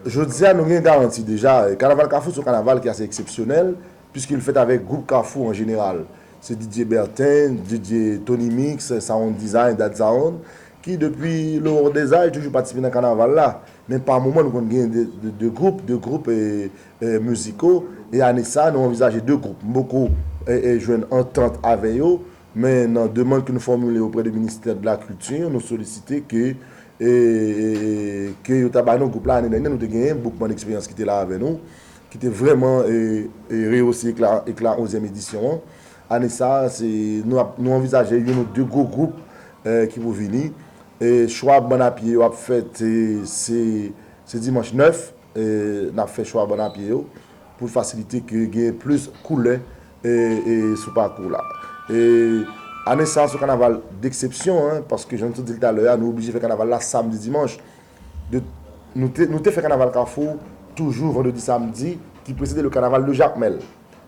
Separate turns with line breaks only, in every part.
Jodi a nou gen garanti deja, kanaval kafou se yon kanaval ki ase eksepsyonèl, piske li fèt avèk gwoup kafou an jeneral. Se Didier Bertin, Didier, Tony Mix, Sound Design, Dad Sound, ki depi loror dezaj toujou patisipe nan kanaval la. Men pa moman nou konn gen 2 gwoup, 2 gwoup miziko, e ane sa nou anvizaje 2 gwoup. M poko jwenn antant avè yo, men nan demand ke nou fòmile oprè de ministè de la culture, nou solisite ke e ke yo ta bay nou gwoup la ane dènye nou te genyen Boukman Eksperyans ki te la avè nou ki te vrèman reyose ekla onzyèm edisyon an ane sa se nou anvizaje youn ou de gwo gwoup ki pou vini e chwa bann a pye yo ap fèt se dimanch 9 n ap fè chwa bann a pye yo. pou l fasilite ke genyen plis koulè sou pakou la. Ane sa se yon kanaval deksepsyon, paske jan nou te di l talè a, nou oblije fè kanaval la samdi dimanch. Nou te fè kanaval kafou toujou vandredi samdi ki presede le kanaval de jakmèl.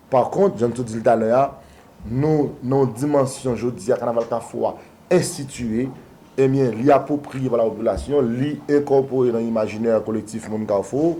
Pa kont, jan nou te di l talè a, nou nan yon dimansyon jodi a kanaval kafou a enstitiye, ebyen li apwopriye pa lapopilasyon, li enkòpore nan imajinè kolektif moun kafou,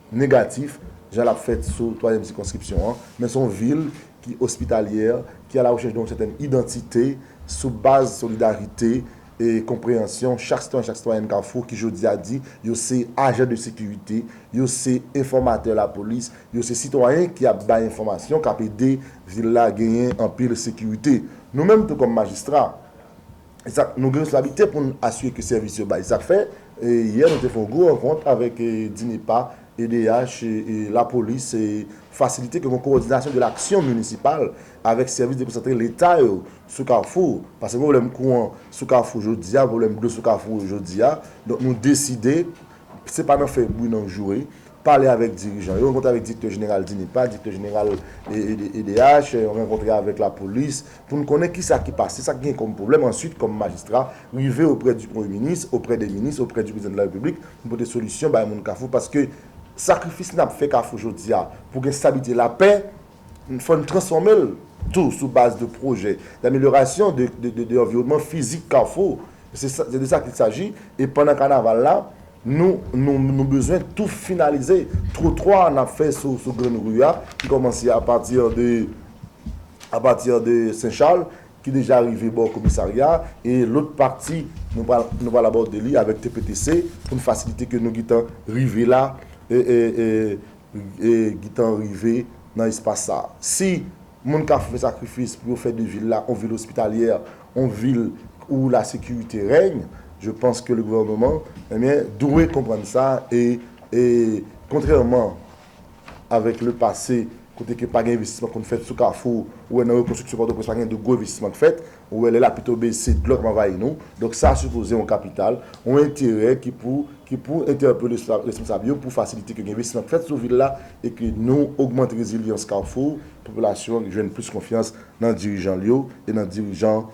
negatif jan l ap fèt sou twazyèm sikonskripsyon an, men se yon vil ki ospitalyè, ki alawòchèch de yon sètèn idantite sou baz solidarite e konpreyansyon chak sitwayen, chak sitwayèn Kafou ki jodi a di yo se ajan de sekirite, yo se enfòmatè lapolis, yo se sitwayen ki ap bay enfòmasyon k ap ede vil la genyen anpil sekirite. Nou menm tou kòm majistra. Zak, Nou gen responsablite pou n asire ke sèvis yo bay zak fè. Yè nou te fè yon gwo rankont avèk DINEPA, edh, lapolis, fasilite ke gen yon kowòdinasyon de laksyon minisipal avèk sèvis dekonsantre leta yo sou Kafou. Pase pwoblèm kouran sou Kafou jodi a, pwoblèm dlo sou Kafou jodi a. Donk nou deside, se pa nan fè bri nan joure, pale avèk dirijan yo, rankontre avèk direktè jeneral DINEPA, direktè jeneral edh, rankontre avèk lapolis, pou n konnen ki sa ki pase, sa k gen kòm pwoblèm, answit kòm majistra, rive oprè di premye minis, oprè de minis, oprè di prezidan de la repiblik, pou n pote solisyon bay moun kafou, paske sakrifis n ap fè kafou jodi a, pou gen stabilite, lapè, fò n transfòme l tou sou baz de pwojè, damelyorasyon de anviwònman fizik kafou, se de sa ki saji, e pandan kanaval la, nou, nou, nou bezwen tou finalize twotwa n ap fè sou gran ri a, ki kòmanse a pati de. a pati de Sen Chal ki deja rive bò komisarya e lòt pati nou pral nou pral abòde li avèk TPTC pou n fasilite ke nou gentan rive la e gentan rive nan espas sa si moun ka fè sakrifis pou yo fè de vil la yon vil ospitalyè yon vil ou la sekirite règne je panse ke le gouvèneman dwe konprann sa e kontrèman. avèk le pase kote ke pa gen envestisman konn fèt sou kafou, ou wè nan rekonstriksyon Pòtoprens pa gen de gwo envestisman k fèt, ou wè lè lapli tonbe se dlo k ap anvayi nou, donk sa sipoze yon kapital, yon enterè ki pou ki pou entèpele responsab yo pou fasilite ke gen envestisman k fèt sou vil la e ke nou ogmante rezilyans kafou, popilasyon an jwenn plis konfyans nan dirijan l yo e nan dirijan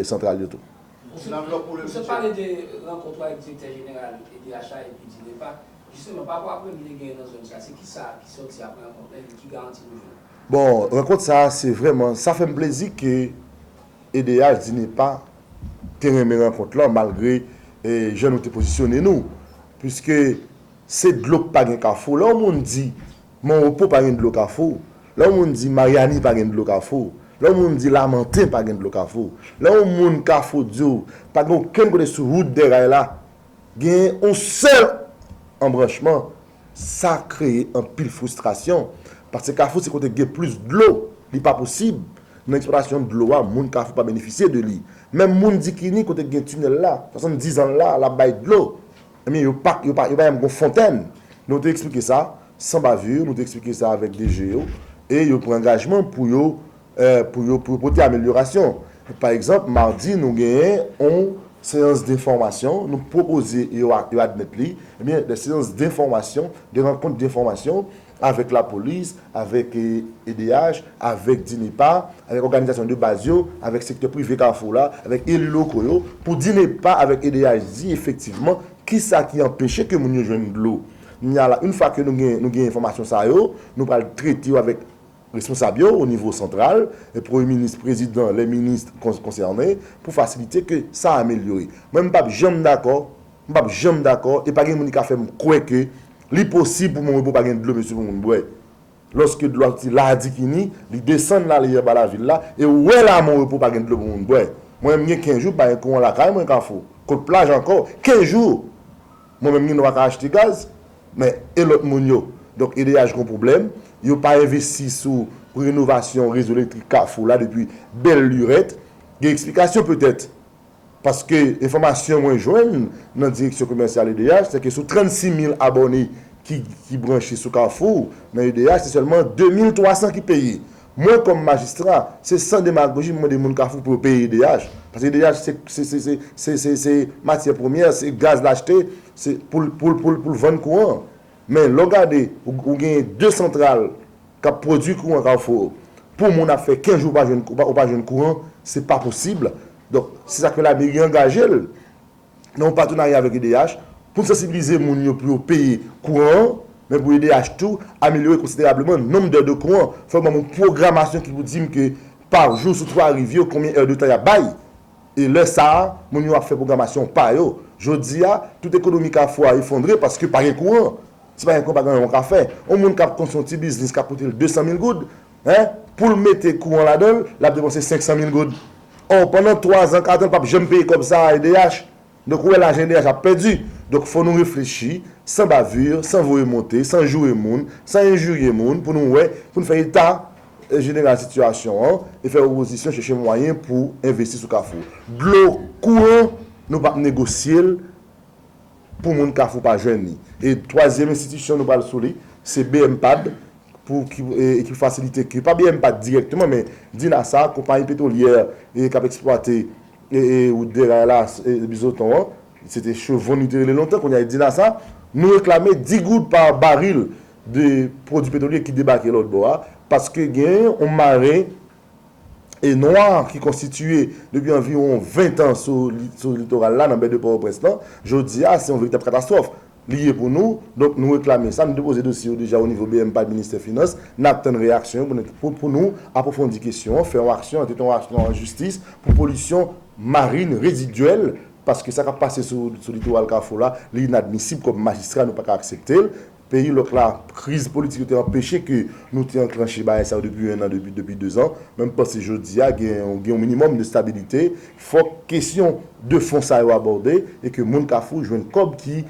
santral yo tou. Msye pale de rankontr
ou avèk Direktè Jeneral EDHA epi DINEPA, Jisteman, pa rapò aprann ki te genyen nan zòn sa, se ki sa ki sòti apre rankont lan epi ki garanti nou jwenn? Bon, rankont sa
a se vrèman, sa fè m plezi ke edh Dinepa te renmen rankont lan malgre jan nou te pozisyone nou. Piske se dlo k pa gen kafou. Lè yon moun di Monrepo pa gen dlo kafou, lè yon moun di Maryani pa gen dlo kafou, lè yon moun di Lamanten pa gen dlo kafou, lè yon moun kafou di w pa gen okenn kote sou wout Dèray la Gen yon sèl anbranchman, sa kreye anpil fristrasyon, paske Kafou se kote ki gen plis dlo, li pa posib, nan eksplwatasyon dlo a, moun Kafou pa benefisye de li. Menm moun Dikini, kote ki gen tinèl la, 70 zan la, l ap bay dlo, ebyen yo pa janm gen fontèn. Nou te eksplike sa, san bavure, nou te eksplike sa avèk DG yo, e yo pran angajman pou yo. pou yo pote amelyorasyon. Pa egzanp, madi nou genyen yon seyans denfòmasyon, nou pwopoze e yo admèt li, ebyen de seyans denfòmasyon, de rankont denfòmasyon avèk lapolis, avèk edh, avèk DINEPA, avèk òganizasyon de baz yo, avèk sektè prive Kafou la, avèk eli loko yo, pou DINEPA avèk edh di efektivman kisa ki anpeche ke moun yo jwenn dlo. Kounya la, in fwa ke nou genyen enfòmasyon sa yo, nou pral trete yo avèk Responsab yo o nivo santral, premye minis, prezidan, lè minis konsène, pou fasilite ke sa amelyore. Mwen m pap janm dakò, m pap janm dakò e pa gen moun ki ka fè m kwè ke li posib pou Monrepo pa gen dlo mesye pou moun bwè. Lòske dlo a soti Ladikini, li desann lale anba lavil la e ou wè la Monrepo pa gen dlo pou moun bwè. Mwen m gen 15 jou pa gen kouran lakay mwen Kafou, kot plaj ankò. 15 jou! Mwen menm Nino paka achte gaz men e lòt moun yo? Donk edh gon pwoblèm, yo pa envesti sou renovasyon rezo elektrik kafou la depi bèl lurèt, gen eksplikasyon petèt paske enfòmasyon mwen jwenn nan direksyon komèsyal edh se ke sou 36 mil abòne ki branche sou kafou nan edh se sèlman 2 mil 300 ki peye Mwen kòm majistra, se san demagoji m mande moun Kafou pou yo peye edh, paske edh se se se se matyè premyè, se gaz l achte pou l pou l pou l pou l vann kouran an. Men lè w gade ou genyen 2 santral k ap pwodui kouran Kafou pou moun ap fè 15 jou pa jwenn ou pa jwenn kouran se pa posib. Donk se sa k fè lameri angaje l. nan yon patenarya avèk edh, pou n sansibilize moun yo pou yo peye kouran an, men pou edh tou amelyore konsiderableman nonb dè de kouran. Fò yo ban m yon pwogramasyon ki pou di m ke pa jou sou 3 riv yo konbyen è de tan y ap bay. E lè sa a, moun yo ap fè pwogramasyon pa yo. Jodi a, tout ekonomi Kafou a efondre paske pa gen kouran. Si pa gen kouran pa gen anyen w ka fè. Yon moun k ap konstwi yon ti biznis k ap koute l 200 mil goud, Hein? Pou l mete kouran ladan l, l ap depanse 500 mil goud. Or, pandan 3 zan, 4 zan, l pap janm peye kòb sa a edh. Donk, ou wè lajan edh ap pèdi. Donk, fò nou reflechi, san bavure, san voye monte, san joure moun, san enjirye moun, pou nou wè, pou nou fè eta jeneral sitiyasyon an e fè opozisyon chèche mwayen pou envesti sou Kafou. Dlo, kouran, nou pap negosye l. pou moun Kafou pa jwenn li. E twazyèm enstitisyon nou pral sou li, se bmpad pou ki pou fasilite ke, pa bmpad dirèkteman men dinasa, konpayi petwolyè k ap eksplwate wout dèray la, bizoton an, se te chevon li te rele lontan, kounye a e dinasa, nou reklame 10 goud pa baril de pwodui petwolye ki debake lòtbò a, paske gen yon maren nwa ki konstitiye depi anviwon 20 tan sou litoral la nan bè de Pòtoprens lan, jodi a se yon veritab katastwòf li ye pou nou. Donk nou reklame sa, nou depoze dosye yo deja o nivo bmpad ministè finans, n ap tann reyaksyon yo pou nou apwofondi kesyon an, fè yon aksyon an tèt yon aksyon an jistis pou polisyon marin rezidyèl paske sa k ap pase sou litoral kafou la li inadmisib kòm majistra nou pa ka aksepte l. Peyi lòk la, kriz politik yo te anpeche ke nou te anklanche bagay sa yo depi 1 an, depi 2 zan. Men m panse jodi a gen yon minimòm de stabilite, fòk kesyon de fon sa yo abòde e ke moun Kafou jwenn kòb ki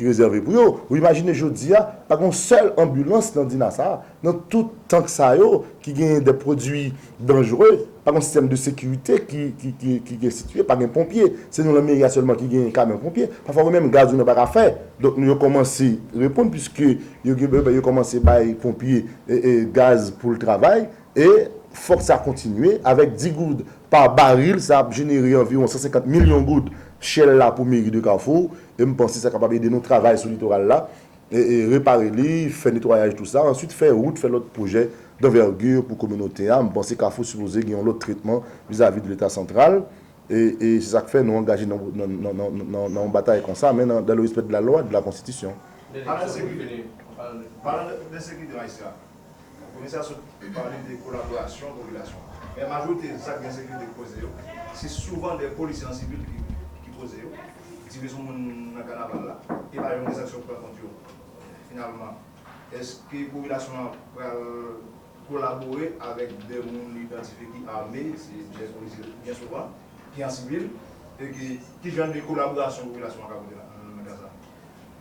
rezève pou yo. Ou imajine jodi a, pa gen yon sèl anbilans nan Dina sa a. Nan tout tank sa yo, ki genyen de pwodui danjre, pa gen yon sistèm de sekirite ki ki enstitye, pa gen ponpye. Se nou nan meri a sèlman ki genyen kamyon ponpye. Pafwa yo menm gaz yo nan pa ka fè. Donk nou yo kòmanse reponn piske yo gen bèbè yo kòmanse bay ponpye gaz pou l travay e fòk sa kontinye avèk 10 goud pa baril sa ap jenere anviwon 150 milyon goud Shell la pou meri de Kafou e m panse sa kapab ede nou travay sou litoral la repare li, fè netwayaj tou sa, answit fè wout, fè lòt pwojè d'envergure pou kominote a, m panse Kafou sipoze gen yon lòt tretman vizavi de leta santral, e se sa k fè nou angaje nan yon batay konsa, men dans le respect de la loi et de la constitution. Palan de sekirite
majistra, Komisè a sot pale de kolaborasyon popilasyon an. Men majorite zak ensekirite ki koze yo, se souvan de polisye an sivil ki koze yo, tire sou moun nan kanaval la, e pa yon enzaksyon ki pran kont yo. Finalman, eske popilasyon an pral kolabore avèk de moun li idantifye ki ame, se de polisye byen souvan, ki an sivil, e ki jan de kolaborasyon popilasyon an ka pote nan ka sa?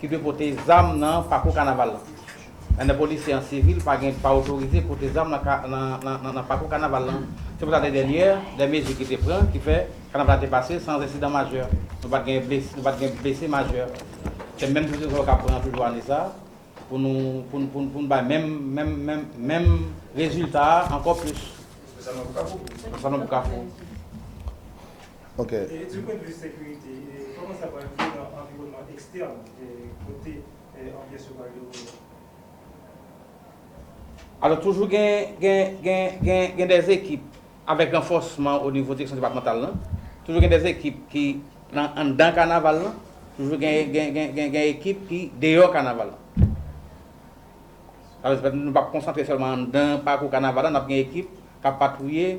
ki dwe pote zam nan pakou kanaval lan. Lane polisye an sivil pa gen pa otorize pote zam nan pakou kanaval lan. Se pou sa lane dènyè, de mezi ki te pran ki fè kanaval la te pase san ensidan majè. Nou pa t gen blese majè. Se menm prekosyon yo ka pran toujou ane sa pou nou bay menm rezilta a ankò plis. Nan Salon Pou Kafou.
E du pwen de vi sekirite,
kòman sa pral ye nan anviwònman ekstèn kote anbyans yo pral devlope
a? Alò toujou gen dè ekip avèk ranfòsman onivo direksyon depatmantal lan, toujou gen dè ekip ki nan anndan kanaval lan, toujou gen ekip ki deyò kanaval lan. Sa vle di nou pap konsantre sèlman anndan pakou kanaval lan, n ap gen ekip k ap patwouye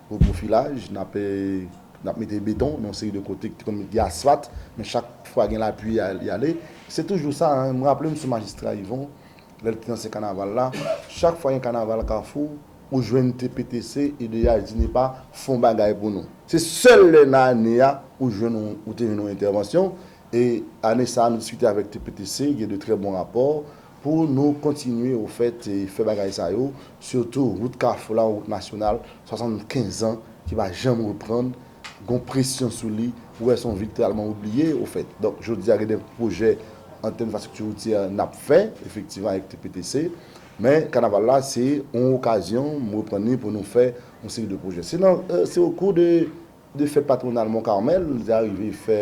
Pou pwofilaj, n ap n ap mete beton nan yon seri de kote ki te konn met gen asfat, men chak fwa gen lapli y a y ale. Se toujou sa, m raple m sou majistra Yvon, lè l te nan se kanaval la, chak fwa gen kanaval Kafou, ou jwenn TPTC, edh, DINEPA fon bagay pou nou. Se sèl lè nan ane a ou jwenn yon ou te jwenn yon entèvansyon e ane sa a nou diskite avèk TPTC, gen de trè bon rapò, Pou nou kontinye ou fèt fè bagay sa yo, sitou wout kafou la yon wout nasyonal 75 an ki pa janm reprann, gon presyon sou li, ou wè son vil tèlman oubliye ou fèt. Donk jodi a gen de pwojè an tèm enfrastrikti woutyè nap fè efektivman avèk TPTC, men kanaval la se yon okazyon m reprann li pou nou fè yon seri de pwojè. Se nan se okou de 2 fèt patwonal Mont Carmel, li te arive fè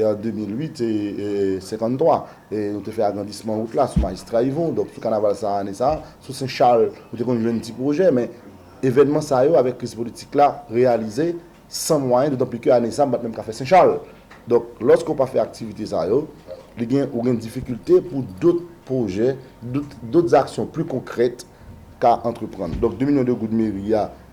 an 2008, 53. Nou te fè agrandisman wout la sou Majistra Yvon, donk sou kanaval sa ane sa, sou Sen Chal, nou te konn jwenn ti pwojè, men evènman sa yo avèk kriz politik la reyalize san mwayen, dotanpli ke ane sa m pa t menm ka fè Sen Chal. Donk lòske ou pa fè aktivite sa yo, li gen, ou gen difikilte pou dot pwojè, dot aksyon pli konkrèt ka antreprann. Donk 2 milyon de goud meri a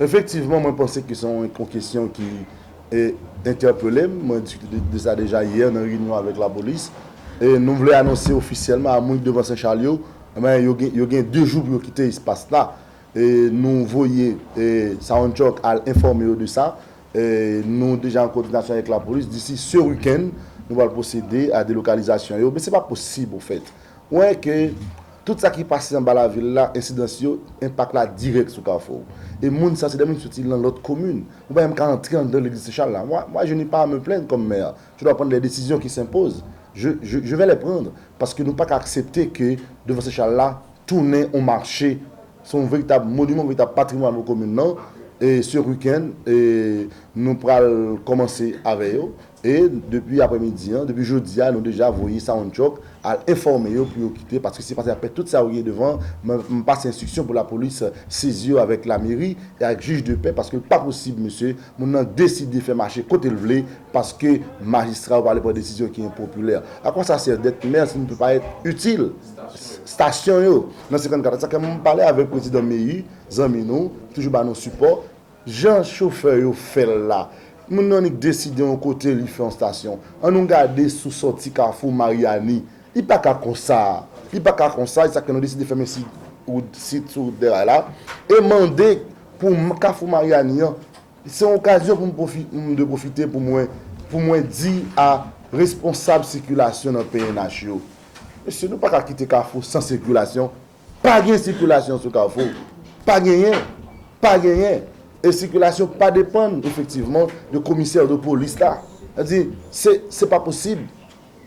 Efektivman, mwen panse ki son yon kesyon ki entèpele m. Mwen diskite de sa deja yè nan reyinyon avèk lapolis. E nou vle anonse ofisyèlman a moun ki devan Senchal yo, yo gen 2 jou pou yo kite espas la. E nou voye Soundchock al enfòme yo de sa. Nou deja an kòdinasyon avèk lapolis. Disi se wikenn, nou pral pwosede a delokalizasyon yo. Men se pa posib ofèt. Mwen ke tout sa ki pase anba lavil la ensidans yo enpak la dirèk sou kafou e moun sa se de moun ki soti lan lòt komin mwen pa menm ka antre andan legliz senchal la mwa mwa je ne pa me plenn kòm mè je dwa prann de desizyon ki senpoz je je je vè lè prann paske nou paka aksepte ke devan senchal la tounen on mache se yon veritab moniman yon veritab patrimwàn pou komin lan e se wikenn e nou pral kòmanse avè yo E depi aprè midi an, depi jodi a nou deja voye Sawanchòk al enfòme yo pou yo kite paske se pase ap fè tout sa yo genyen devan m pase enstriksyon pou lapolis sezi yo avèk lameri e ak jij de pè paske l pa posib mesye moun nan deside fè mache kote l vle paske majistra yo pa vle pran desizyon ki enpopilè. A kò sa sèv dèt mè si nou te pa èt itil stasyon yo nan 54 a sa fè m pale avèk prezidan Meyi zanmi nou ki toujou ba nou sipò. Jan chofè yo fè l la. Moun nan nik deside yon kote li fè yon stasyon. An nou gade sou sòti kafou Maryani. Li pa ka konsa. Li pa ka konsa. E sa k fè nou deside fèmen sid wout sid sou wout Dèray la. E mande pou kafou Maryani an. Se yon okazyon pou m pwofi m dwe pwofite pou mwen pou mwen di a responsab sikilasyon nan pnh yo. Mesye nou pa ka kite kafou san sikilasyon. Pa gen sikilasyon sou Kafou. Pa genyen. Pa genyen. E sikilasyon pa depann efektivman de komisè ou de polis la. Sa di, se pa posib.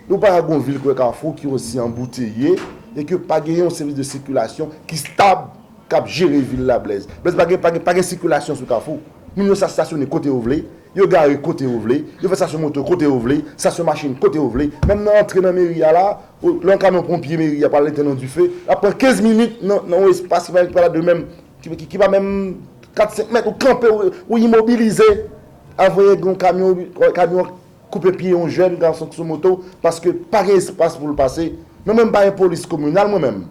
Nou pa ka gen yon vil kwe Kafou ki osi anbouteye e ke pa genyen yon sèvis de sikilasyon ki stab k ap jere vil la Blèz. Blèz pa gen, pa gen sikilasyon sou Kafou. Moun yo sa stasyone kote yo vle. Yo gare kote yo vle. Yo fè stasyon moto kote yo vle. Stasyon machin kote yo vle. Menm nan antre nan meri a la, Lè yon kamyon ponpye meri a pral etenn yon dife, l ap pran 15 minit nan yon espas ki pa la demenm, ki pa menm 4, 5 mèt, ou kanpe, ou imobilize avan yon gwo kamyon, kamyon an koupe pye yon jèn gason ki sou moto paske pa gen espas pou l pase. Mwen menm m pa yon polis kominal mwen menm.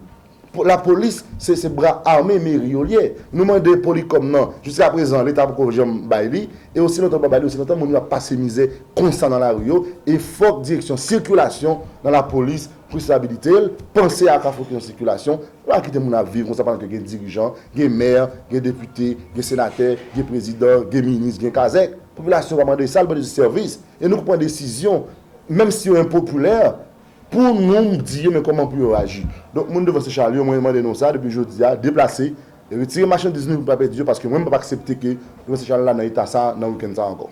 Lapolis se se bra ame meri yo liye. Nou mande polycom nan jiska prezan leta poko janm bay li e osi lontan yo pa bay li osi lontan moun yo ap pase mizè konsa nan lari yo e fok direksyon sikilasyon nan lapolis pris sabilite l panse a ka fout yon sikilasyon yo pa kite moun ap viv konsa pandan ke gen dirijan gen mè gen depite gen senatè gen prezidan gen minis gen kazek popilasyon pa mande sa l mande jis sèvis e nou k pran desizyon menm si yo enpopilè. Pou nou m di yo men kòman pou yo aji. Donk moun devan se Charly yo mwen mande nou sa depi jodi a deplase retire machandiz nou pou n pa pèdi yo paske mwen m pap aksepte ke devan se Charly la nan eta sa nan weekend sa ankò.